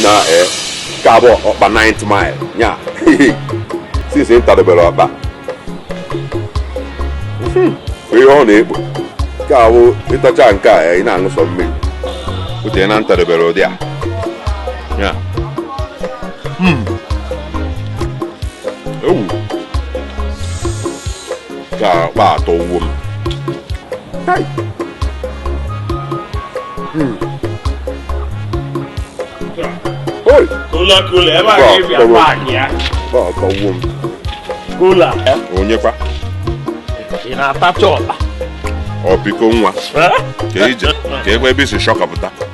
na eh, nke abụọ ọkpa 9th mile ya since m tadobere ọkpa hmm, ihe ọ na-ekpo ọkụ ịtacha nke a eh, ị na-aṅụ sọ mmiri uche na m tadobere ụdị a ya hmm. ewu ka ọkpa atọ uwe m kula ebe a ga-ebi akpa anyị ya ọkpa atọ uwe m kula onyekwa ị na-atacha ọkpa ọpiko nwa ka ije ka egbe ebe i si shọkapụta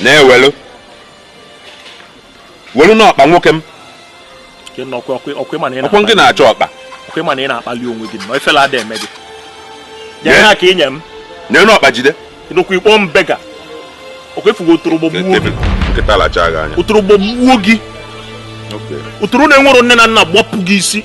na-ewelu welu n'ọkpa nwoke m ọkwọ gị na-achọ ọkpa ọkwa ị ma na ị na-akpali onwe gị na ifele ada eme gị nye ha ka ị nye m nye n'ọkpa jide ịnụkwa ịkpọ m beggar ọkwa ị fụgo otoro gbagbuo gị nkịta lacha gị anya otoro gbagbuo gị otoro na-enwero nne na nna gbapụ gị isi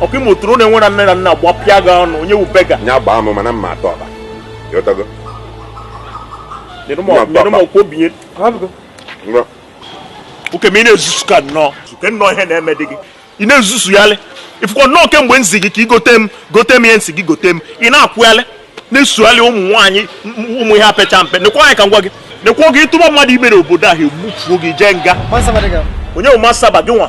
ọkwa ị ma otoro na-enwero nne na nna gbapịa gị ọnụ onye wụ beggar nya gbaa m mana m ma ata ọkpa ị ghọtago nyere m ọkwa obinye ngwa oke ma ị na-ezuzu ka nnọọ suke nnọọ ihe na-eme dị gị ị na-ezuzuyalị ifụkọ nnọọ kemgbe m zi gị ka ị gote m gote m ihe m sị gị gote m ị na-akwụghalị na-esoghalị ụmụ nwaanyị ụmụ ihe apecha mpe nekwa anya ka m gwa gị nekwa oge ị tụba mmadụ ime n'obodo ahụ e bufuo gị jee nga Mansaba dị gị. onye bụ masaba gị nwa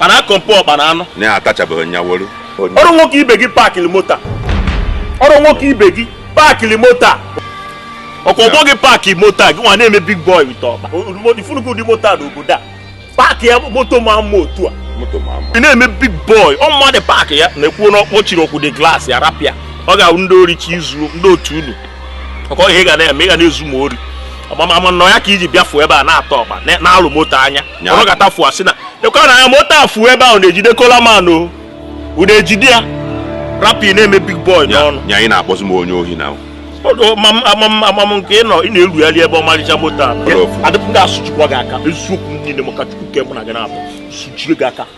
mana a compare ọkpa na anụ na ya atachabeghị nya wolu ọrọ nwoke ibe gị paakịrị moto a. ọrọ nwoke ibe gị paakịrị moto a. ọkwa ọgbọ gị paakị moto a gị nwa na-eme big boy with ọkpa ị fụnụgo ụdị moto a n'obodo a paakị ya moto ma mma otu a moto ma mma ị na-eme big boy ọ mmadụ paakị ya na-ekwu na ọ kpọchiri ọkwụ dị glass ya rapụ ya ọ ga-awụ ndị ori chi izu ndị otu unu ọkwa ihe ị ga na-eme ị ga na-ezu ma ori ọkwa m ma na ọ ya ka i ji bịafuo ebe a na-ata ọkpa na- na-alọ moto anya ọ ga-ata fụa si na ekwe na ya moto afụ ebe ahụ na-ejide kolaman o ụna ejide ya rapụ na-eme big boy n'ọnụ nya ị na-akpọzi m onye ohi na ama m nke ị nọ ị na-erugharị ebe ọmarịcha moto a dị m ga-asụjikwa gị aka eziokwu niile maka chukwu nke mụ na gị na-abụ sụjie gị aka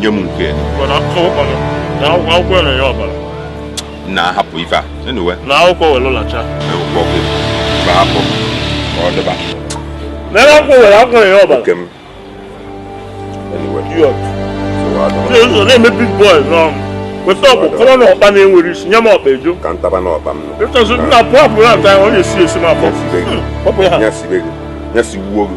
nye m nke na-ahapụ ife a na akwụkwọ were lacha hapụ ọ dịba n'ebe akwụkwọ were akwụkwọ ya ọbara nke m na-eme big boy n'ọnụ weta ọkpụ kọrọ na ọkpa na-enwero isi nye m ọkpa joor ka m taba na ọkpa m ịchọzi nna pụọ apụrụ ata ya ọ na-esi esi m afọ nya sibe gị nya sigbuo gị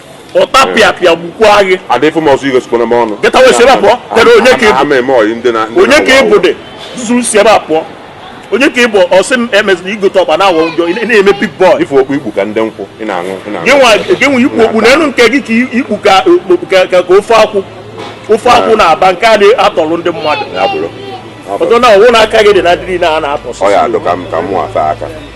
ọtapịapịa gbukwaa gị ada ife m ọzọ igosikwana m ọnụ Get away si ebe a pụọ. Kedu onye ka ị bụ? ama eme ọyị ndị na onye ka ị bụ zuzuru si ebe a pụọ onye ka ị bụ ọsị m emezina igote ọkpa na awọ njọ ị na-eme big boy ife okpu ikpu ka ndị nkwụ ị na-aṅụ ị na-aṅụ. gị nwa gị nwa ikpu okpu n'elu nke gị ka ikpu ka okpu ka ka ka ofe akwụ ofe akwụ na-aba nke a na-atọrọ ndị mmadụ ya bụrụ ọtọ na ọwụ na aka gị dị na dịrị na a na-atọsị ọ ya adụ ka m ka mụ afa aka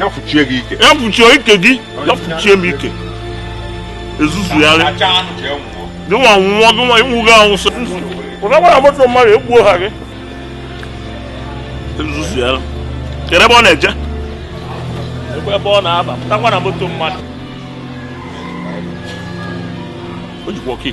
ya fụchie gị ike ya fụchie ike gị ya fụchie m ike ezuzugharị gịnwa nwụọ gịnwa iwu gị awụsị pụtakwa na moto mmadụ egbuo ha gị ezuzugharị kedu ebe ọ na-eje ebe ọ na-aba pụtakwa na moto mmadụ o jikwa key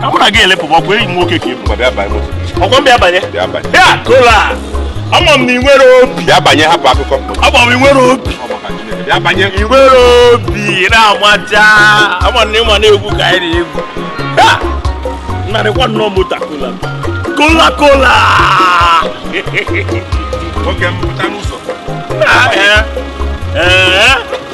ka mụ na gị elepụba ọkụ enyi m nwoke ka ị bụ bịa banye moto ọkwa m bịa banye bịa banye ya kola ama m na ị nwere obi bịa banye hapụ akụkọ ama m ị nwere obi bịa banye ị nwere obi na-amaja ama na ị ma na egwu ka anyị na-egwu ya narịkwa nnọọ moto a, kola kola kola nwoke m pụta n'ụzọ Ah, eh. Eh.